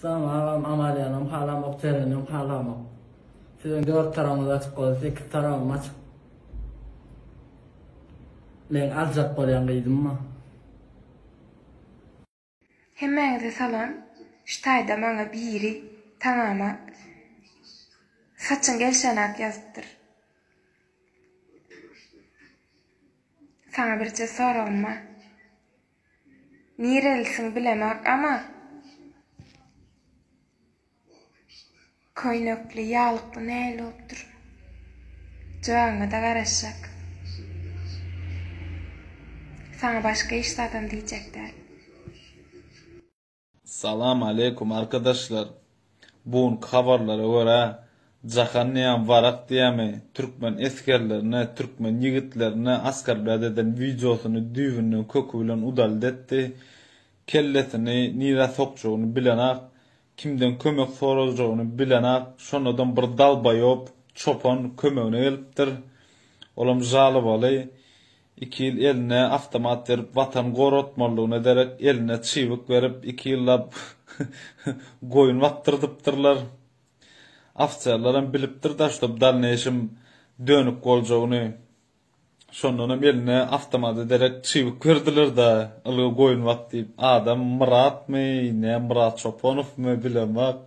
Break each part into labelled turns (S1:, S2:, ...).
S1: Salam agam Amaliýanam halamok Tereninem halamok. Siziň dört taragyňyz açyk bolsa sekiz taragym açyk. Men aljak bolýan gyzymmy?
S2: Hemmäňize salam ştaýda maňa biri taňama saçyň gelşenäk ýazypdyr. Saňa birje soragym bar. Nirelisiň bilemok ama köýnekli ýalykly nähili bolupdyr jogabyňada garaşjak saňa başga hiç zadam diýjek däl.
S3: Salam aleýkum arkadaşlar! Bu günki habarlara görä, Jahan Niýam Warak diýýämi, türkmen esgerlerine, türkmen ýigitlerine asgarbäd eden wideosyny düýbünden köki bilen udalit etdi. Kellesini nirä sokjagyny bilenak, kimden kömek sorajagyny bilenak, şonadam bir dalbaýop çopan kömegine gelipdir. Olam žalobaly. Iki ýyl eline awtomat berip watan goratmalydygyna derek eline çybyk berip iki ýyllap goýun bakdyrdypdyrlar. Ofserleram bilipdir daş to bdalneýşim dönük boljagyny. Şondanam eline awtomada derek çybyk berdilirda ylgy goýun bak diýip adam Myratmy ne Myrat Çoponowmy bilemok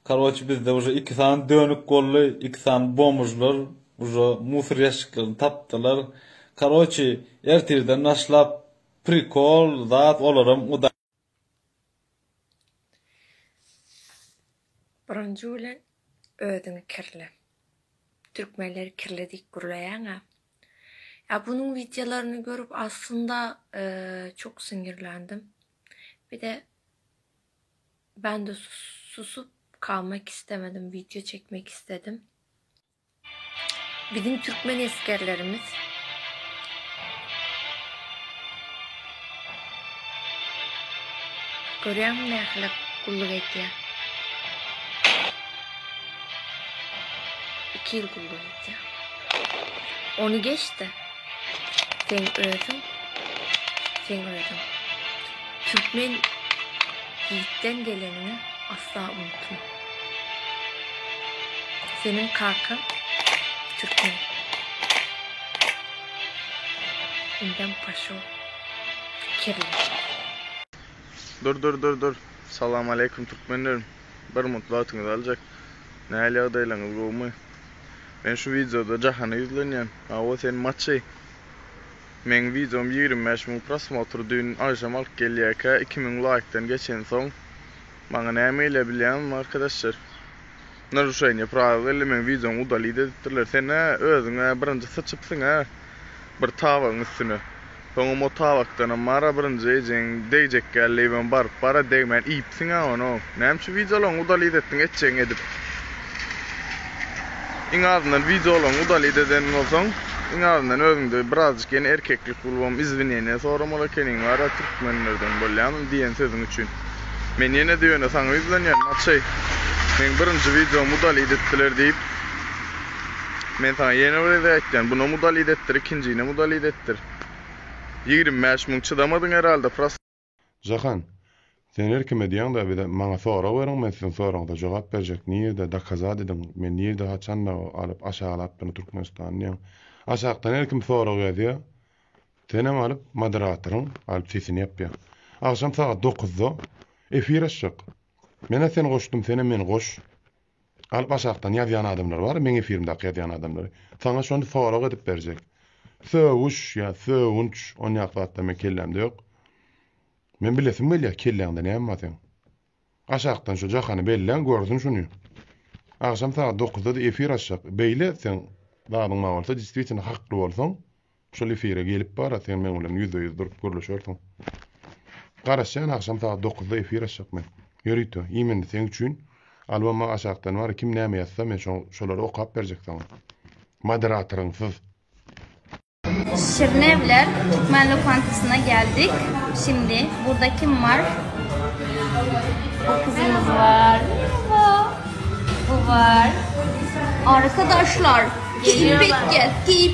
S3: Karoçi bizde uje iki sany dönük golly iki sany bomžlar uje musor ýaşşiklaryny tapdylar karoçi ertirden naşlap prikol zat olaram uda.
S2: Birinji bilen özüňi kirle. Türkmenleri kirli diýip gürleýäňä. Ýa bunuň wideolaryny görüp aslynda çok siňirländim. Bir de Bende susup kalmak istemedim video çekmek istedim. Biziň türkmen esgerlerimiz Görýäňmi nähili gulluk edýär. 2 ýyl gulluk edýär. Ony geçdi. Sen özüň, sen özüň. Türkmen ýitden gelenini asla unutma. Seniň kakaň türkmen. Indem paşo kirli.
S4: Dur dur dur dur. Salam aleýkum türkmenlerim. Bir mutlu atyňyzy aljak. Nähili ýagdaýlaryňyz gowumy? Men şu wideoda jahana ýüzlenýän. Hawa sen maçy. Meň wideom ýigrimi bäş müň prosmotr düýn agşam alyp gelýäkä iki müň laýkdan geçensoň maňa näme eýlär bilýäňizmi arkadaşlar. Naruşeniýe prawil geldi meň wideomy udalit edipdirler. Sen-ä özüň-ä birinji syçypsyň-ä. bir tabagyň üstüne. Soňam o tabakdanam Mara birinji ejegiň degjek ýaly diýibem baryp bar-a, degmän iýipsiň-ä ony. Näme üçin wideolaryňy udalit etdiň etjegiňi edip? Iň azyndan wideolaryňy udalit eden bolsaň, iň azyndan özüňde birazjyk ýene erkeklik bolubam izwineniýe soramaly ekeniň, bar-a, türkmenlerden bolýamy diýen sözüň üçin. Men ýene-de ýöne saňa ýüzlenýän, Maçeý. Meň birinji wideomy udalit etdiler diýip. Men saňa ýene bir gezek aýtýan, bunam udalit etdir, ikinjinem udalit etdir. Ýigrimi bäş müň çydamadyň herhalde prosta. Jahan,
S5: sen her kime diýeňda bize, maňa sorag beriň, men siziň soragyňyza jogap berjek, nirde, dokazat ediň, men nirde, haçanda alyp aşaglap bunu Türkmenistany diýeň. Aşakdan her kim sorag ýazýa, senem alyp moderatoryň alyp sesini ýapýa. Agşam sagat dokuzda efir açjak. Menä seni goşdum, senem meni goş. Galyp aşakdan ýazýan adamlar bar, meň efirimdäki ýazýan adamlary. Saňa şony sorag edip berjek. Sögüş ýa sögünç onýak zatlar meň kellämde ýok. Men bilesim gelýär kelläňde näme bar seň. Aşakdan şu jahany belläň görsün şuny. Agşam sagat dokuzda-da efir açjak. Beýle etseň zadyň bar bolsa, deswitino hakly bolsaň, Şol efire gelip bara sen meň bilen ýüzbe ýüz durup gürleşersiň. Garaşýan agşam sagat dokuzda efir açjak men. Ýörite, iým indi seň üçin alboma aşakdan bar kim näme ýazsa men şo şolary okap berjek saňa. Moderatoryňsyz.
S6: Şirnewler Türkmen lokantasyna geldik. Şimdi burada kim var? Kızımız var. Bu var. Arkadaşlar, giyip gel, giyip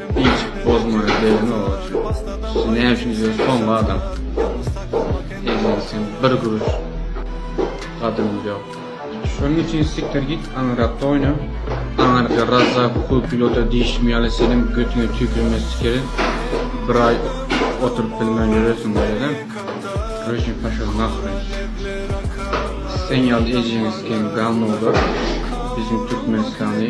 S7: Hiç bozmaly degno oçun siz näme üçin ýöne soňky adam eziz sen bir guruş gadryň ýok. Şonuň üçin sikdir git aňyrakda oýna aňyrda razza kup pilota diýşim ýaly seniň götüňe tüýkürme sikeri bir aý oturyp bilmän ýöresiň bolada röşen paşa nahruň sen ýaly ejeňe siken gawnolar biziň türkmenistany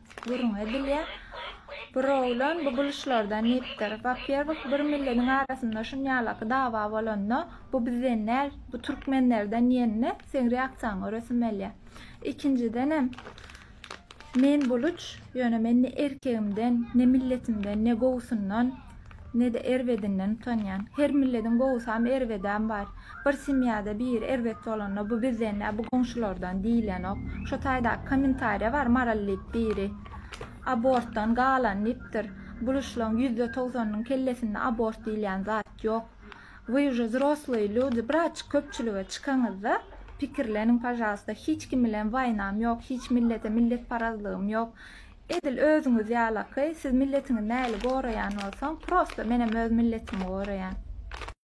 S8: Gürrüň edilýär. Bir oglan bu buluşlardan diýipdir. Wapýerwok bir milletiň arasynda şunýalaky dawa bolanda, bu bizden däl, bu türkmenlerden diýende, seň reaksiýaň göresimgelýär. Ikinjidenem, men buluç, ýöne men ne erkegimden, ne milletimden, ne gowusyndan, ne-de erbedinden utanýan. Her millediň gowusam, erbedem bar. Bir semýada biri erbet bolanda, bu bizden-dä, bu goňşulardan diýilenok. Şo taýdaky kommentariýa bar, Maral diýip biri abortdan galan diýipdir. Buluşlaň ýüzde togsanynyň kellesinde abort diýilýän zat ýok. Вы уже zrosloýe lýudi, biraçyk köpçülige çykaňyzda pikirleniň pažalsta. Hiç kim bilen waýnam ýok, hiç millete milletparazlygym ýok. Edil özüňiz ýalaky, siz milletiňi mäli goraýan bolsaň, prosta menem öz milletimi goraýan.